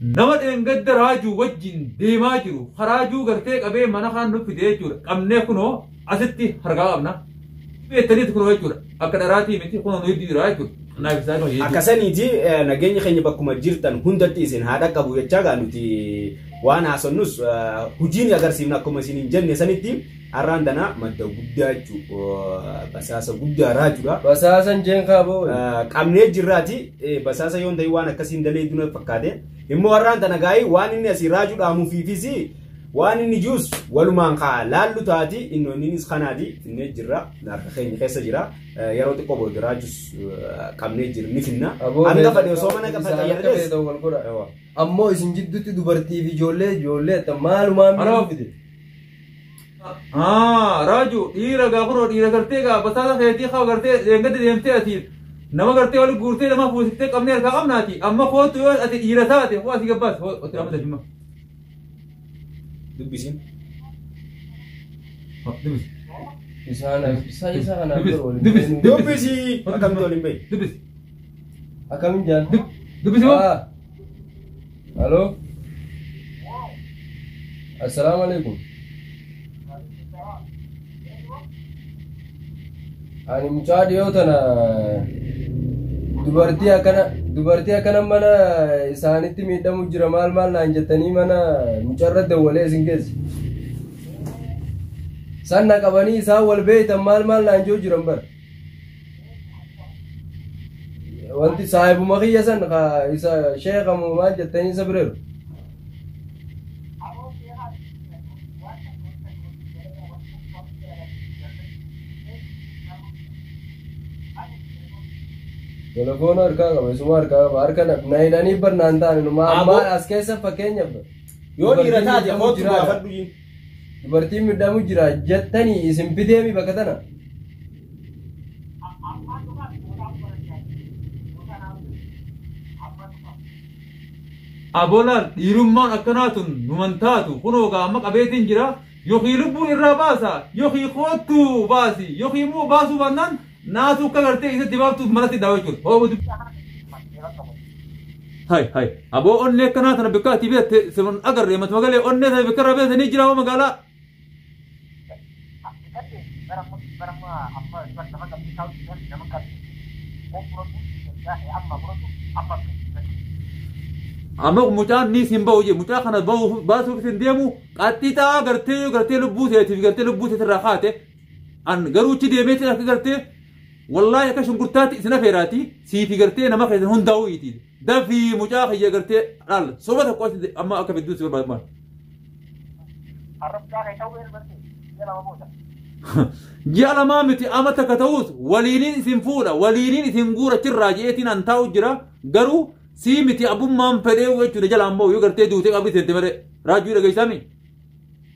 Nama dheengadda raajuu wajjin deemaa jiru ka raajuu gartee qabee mana kaan nu fide jechuudha. Qabnee kunoo asitti harkaa qabna. Beektaniiti kunoo jechuudha. Akka dharaatii miti kunoo nu hedduu jira jechuudha. Naaf isaa dhuma jechuudha. Akkasaniiti eh, nageenyi keenya bakkuma jirtan hundatti isin haa dhaqqabu jechaa gaa nuti waan haasonnus eh, hojiin agarsiifna akkuma isin hin jenne sanitti Arraan tana madda guddaa jechuun basaasa guddaa raajudha. Basaasan jeen kaaboo. Qabnee jirraati basaasa yoon ta'e waan akkasiin dalee duna fakkaate. Immoo arraan tana gaa'ii waan inni asii raajuu dhaamuufiifis waan inni juus walumaan kaa laallu taati innoonniinis kanaati finnee jirra harka keenya keessa jira yeroo xiqqoo booda raajus qabnee jirra ni finna. Hanga fadhe osoo mana gafa xayyaarrees. Ammoo isin jidduutti dubartii fi ijoollee ijoollee maalumaa miidhagfite. Haa raaju dhiira gaa kunoo dhiira gartee gaa basaasa keetii kaa gartee deengatti deemtee ati nama gartee wali guurtee nama fuusiftee qabnee harkaa qabnaati amma kootu yoo ati dhiira taate koo asii gabbaas koo ati amma dafima. Dubbisin. Dubbisi. Isaan isa isa kana Dubbisi. biro waliin. Dubbisi. Dubbisi. Akkamitti waliin bahe? Dubbisi. Akkamiin jaan? Dubbisi moo? Ah. Halo. Assalamu alaikum. Ani mucaa dhiyoo tana dubartii akkana dubartii akkana mana isaanitti miidhamu jira maal maal naan jettanii mana mucarra dawwalee isin keessa. Sanna qabanii isaan wal beeytan maal maal naan jechuu jiran bara. Wanti saahibuma kiyya san ka isa sheeka moo maal jettanii isa bireeru. Telefoona harkaa qaba isuma harkaa qaba harka na- na hidhanii barnaan ta'an inumaa Aboo. ammaan as keessa fakkeenyaaf. Yoo dhiira taate kootu baafadhu jiin. Dubartiin midhamu jira jettanii isin fideemi bakka tana. Abolaal dhiirummaan akkanaa tun numan taatu kunoo gaa amma qabeetiin jira yookiin lubbuun irraa baasa yookiin koottuu baasi yookiin immoo baasuu baannaan Naatu akka gartee isa dibaabtuuf malatti daawa jechuudha. Hoobu dib. Hai hai. Aboo onnee akka naata na bikka ati beekte sirun agarree matu magalee onnee sana bikka irraa beekte ni jira hoo magaalaa. Amma mucaan ni sin ba'u jee mucaa kana ba'u baasuuf isin deemu qaxxixaa gartee gartee lubbuu seetiif gartee lubbuu seetirraa kaate An garuu itti deemeetiin akka gartee wallaahi akka shunkurtaatti isin afeeraati siifi gartee nama keessan hundaa'uu iti dafii mucaa kiyya gartee dhaal soba tokko asitti amma akka fidduu si barbaadu maal. Arrabdaa kee ta'uu elbattee ji'a lama booda. Ji'a lamaa miti amma takka ta'us waliiniin isin fuudha waliiniin isin guura chirraa je'eetiin an taa'u jira garuu sii miti abbummaan fedhee jechuudha jalaan ba'u yoo gartee duutee qabri seente malee raajuu dhageessaami.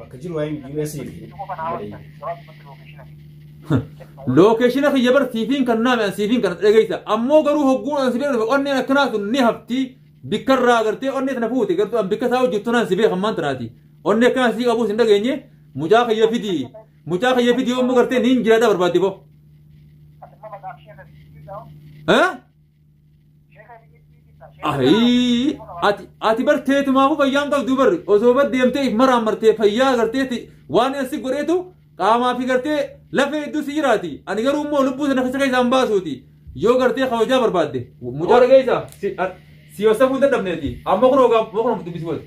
Bakka jiru waa'een US fi Lookeeshina kiyya bar siifiin kan naame an siifiin kan dhageessa. Ammoo garuu hogguun an si bira dhufe onneen akkanaa sun ni hafti. Bikka irraa agartee onnee tana fuute gartuu an bikka isaa hojjettu naan si beekan maan tanaati. Onnee akkanaa sii qabuus hin dhageenye mucaa kiyya fidi. Mucaa kiyya fidi yommuu gartee niin jiraadha barbaadde boo. Eh? Ayii ati ati bar teetumaafuu fayyaa hin qabdu barri osoo bar deemtee if maraan martee fayyaa agartee ti- waan asi godheetu qaamaa fi gartee lafee hedduu si jiraati ani garuu immoo lubbuu sana keessa keessaa hin baasuuti yoo gartee kabajaa barbaadde mucaa dhageessa si a- si yoosafuu hin dadhabneeti amma kun hoogaa kun dubbisi wal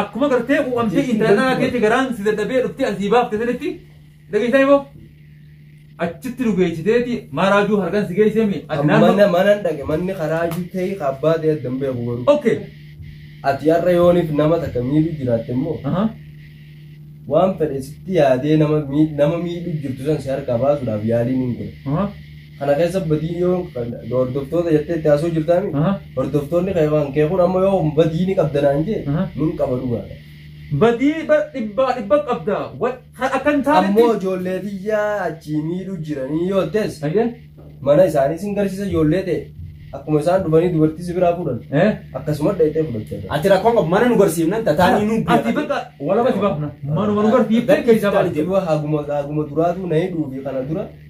Akkuma gartee quuqamtee intala dhalaa keetti garaan si dadhabee dhuftee asii baafte sanitti dhageessaa himo. Achitti nu geessiteeti maaraajuu harkaan si geessee mi? Ati Mana naannoo. manan dhage manni karaa jutee abbaa ta'e addan beeku garuu. Okay. Ati har'a yooniif nama takka miidhu jiraatte immoo Ahaa. waan fedhe sitti yaadee nama mii- nama miidhu jirtu san si harkaa baasuudhaaf yaaliin hin godhe. Ahaa. Kana keessa badiin yoo hordoftoota jettee itti haasoo jirtaami. Aha. Hordoftoonni kee waan kee kun amma yoo badii ni qabda naan jee Aha. nun qaba dhugaadha. Badii bar dhibbaa dhibba qabda. Wa- Kan akka hin Ammoo taanetti. ijoollee tiyyaa achii miidhu jiranii yoo ta'es Ayyee. mana isaanii sin garsiisa ijoollee ta'e akkuma isaan dhufanii dubartii si biraa fuudhan Eh. akkasuma dhayxee fudhachaa jira. Ati rakkoon qabu mana nu garsiifnan tataanii nu Ati bakka walaba si baafna. Manuma nu garsiiftee keessa baafna. Haguma haguma duraatu na hidhuufi kana dura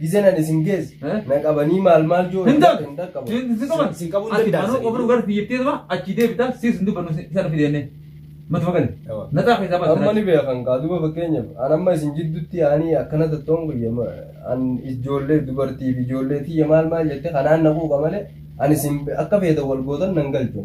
Gizeen ani isin geesse. Eh? Na qabanii maal maal joo. Hin dhaqqabu. Hin dhaqqabu. Hin qaban. Sin qabuu Ati danda'a. manuu qofni gara biyyattii dura achi deebita siis hin dubbannu isa nufi deemne. Mata fakkaate. Yawa. Naxaa keessaa baasa. Amma ni beekan kaa duba fakkeenyaaf an amma isin jidduutti yaanii akkana tattoon guyya an ijoollee dubartiif ijoollee tiyya maal maal jette kanaan na quuqa malee an isin akka feetan wal gootan nan galchu.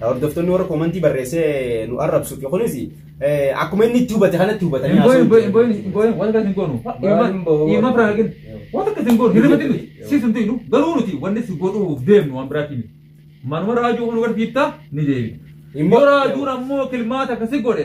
Hordoftoonni warra koomantii barreessee nu arrabsuuf kunis akkuma inni itti hubate kanatti hubatanii Hin booyin, booyin, booyin, hin booyin, waan akkas hin goonu. Booyin, booyin. Ilma biraa argin. Waan akkas hin goonu. Hirribatti miti. Siis hin tuynu. Garuu nuti wanni si godhuuf deemnu waan biraatti miti. Manuma raajuu kun garsiifta ni deebi. Immoo- Yoo raajuun ammoo kilmaata akkasi godhe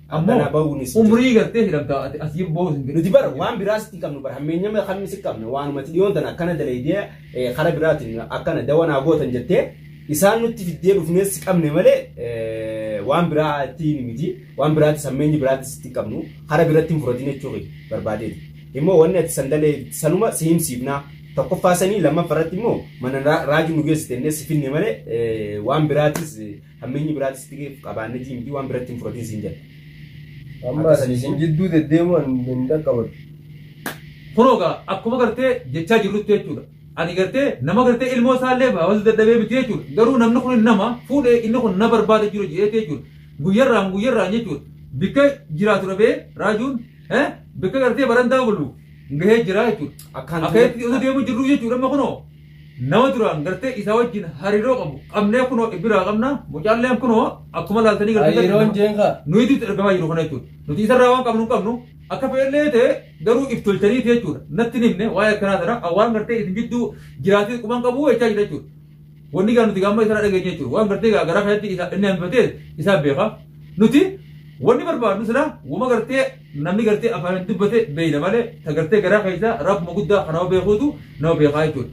Ammoo Akkanaa bahuun isin umrii gartee hidhamtaa ati as jibboo hin jiru. Nuti bara waan biraas itti qabnu bara hammeenyama kan isin qabne waanumatti dhiyoon tana akkana dalaydee eh, karaa biraatiin akkana dawa naa gootan jettee isaan nutti fiddee dhufnees qabne malee eh, waan biraatiin miti waan biraatis hammeenyi biraatis itti qabnu karaa biratti hin furatin jechuu kee barbaadeeti. Immoo wanni ati sandalee sanuma si himsiifnaa tokkoffaa sanii lammaffaa irratti immoo mana raa- raajii nu geessite innee si finne malee eh, waan biraatis eh, Hammeenyi biraati sitti ga'e qabaannetii miti waan biratti hin fudhatin siin jedha. Amma Akka sanii isin jidduu deddeemuu an hin dhaqqabatu. Kunoo gaa akkuma gartee jechaa jirrutti jechuudha. Ani gartee nama gartee ilmoo isaallee hawaasa dadhabee miti jechuudha. Garuu namni kun nama fuudhee inni kun na barbaada jiru jedheeti jechuudha. Guyyarraan guyyarraan jechuudha. Bikka jiraatu dhabee raajuun eh, bikka gartee barandaa bulu gahee jira jechuudha. Akkaan Akka itti osoo deemu jirru jechuudha amma kunoo. nama duraan gartee isa wajjin hariiroo qabu qabnee kunoo biraa qabna mucaalleen kunoo akkuma laaltanii gartee Hariiroon jeenka. nuti itti argamaa jiru kana jechuudha nuti isarraa waan qabnu hin qabnu akka fedhellee ta'e garuu if tolchaniiti jechuudha natti hin himne waa'ee akkanaa sana waan gartee isin gidduu jiraatee quban qabu jechaa jira jechuudha wanni gaa nuti gaamma isarraa dhageenye jechuudha waan gartee gaa garaa kanatti isa inni hambifatee isaa beeka nuti wanni barbaadnu sila wama gartee Namni gartee afaan dubbate beeyna malee ta gartee garaa keessaa rabbuma guddaa kan nama beekuutu nama beekaa jechuudha.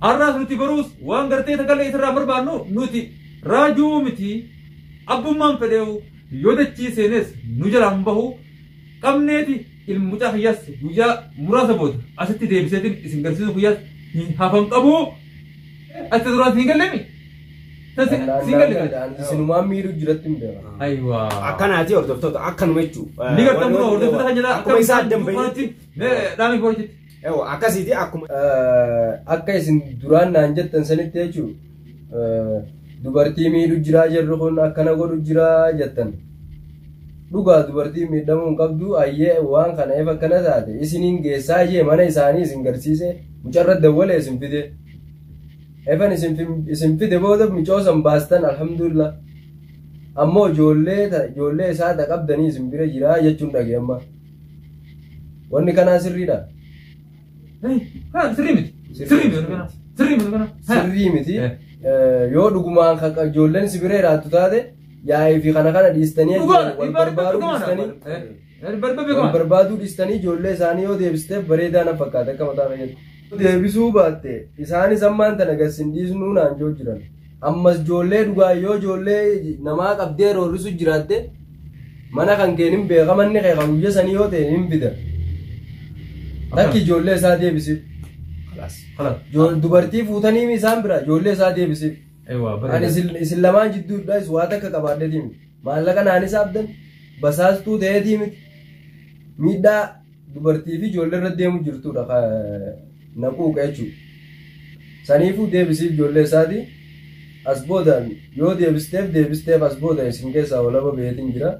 Har'aas nuti baruus waan gartee takallee isarraa barbaannu nuti raajuu miti abbummaan fedheewu yoo dachii seenes nu jalaa hin bahu qabneeti ilmi mucaa kiyyaas guyyaa muraasa booda asitti deebiseetiin isin garsiisuu kiyyaas hin hafan qabu. Ati duraan hin gallemi. Wallaan isinumaan miidhuu jiratti hin beekan. Aywa. Akkanaati hordoftoota akkanuma jechuu. Ni gartan bro hordoftoota kan jedhaa Akkuma isaa addan bahitti. Dhaami foorti. Yoo akkasiiti akkuma. Akka isin duraan naan jettan sanitti jechuun dubartii miidhu jiraa jirru kun akkana godhu jiraa jettan. Dhugaa dubartii miidhamuu hin qabdu ayyee waan kana efa akkana taate isiniin geessaa ishee mana isaanii isin garsiise mucarra dawwale isin fide. Evan isin fin- isin fide booda micoo san baastan alhamdulillah. Ammoo ijoollee ta- ijoollee isaa ta qabdanii isin bira jiraa jechuun dhage amma. Wanni kanaa sirriidha. Ha, sirrii miti. Sirrii miti kana. Sirrii miti kana. Ha. Sirrii miti. Eh. Eh, Yoo dhugumaan kan kan ijoolleen si bira jiraattu taate yaa'ii fi kana kana dhiistanii Dhugaadha. wal Dhibbaa dhibbaa barbaaduu dhugaadha. dhiistanii Eh. Wal barbaaduu dhistanii ijoollee isaanii yoo deebisteef bareedaa na fakkaata akka mataa fayyadu. Deebisuu baatte isaanis ammaan tana gad sin dhiisnuu naan joo jiran. Ammas ijoollee dhugaa yoo ijoollee namaa qabdee roorrisu jiraatte mana kan keen hin beeka manni kee kan guyya sanii yoo ta'e hin fida. Takki ijoollee isaa deebisiif. Kalas. Kalas. Joo- Dubartii fuutanii isaan bira ijoollee isaa deebisiif. Ewa Ani bareeda. isin isin lamaan jidduudhaas waa takka qabaadheetiin. Maallaqa naan hisaabdan basaastuu ta'eetii miti. Miidhaa dubartii fi ijoollee irra deemu jirtudha ka na quuqa jechuudha. Saniifuu deebisiif ijoollee isaati. As boodaan yoo deebisteef deebisteef as booda isin keessaa walaba beetiin jira.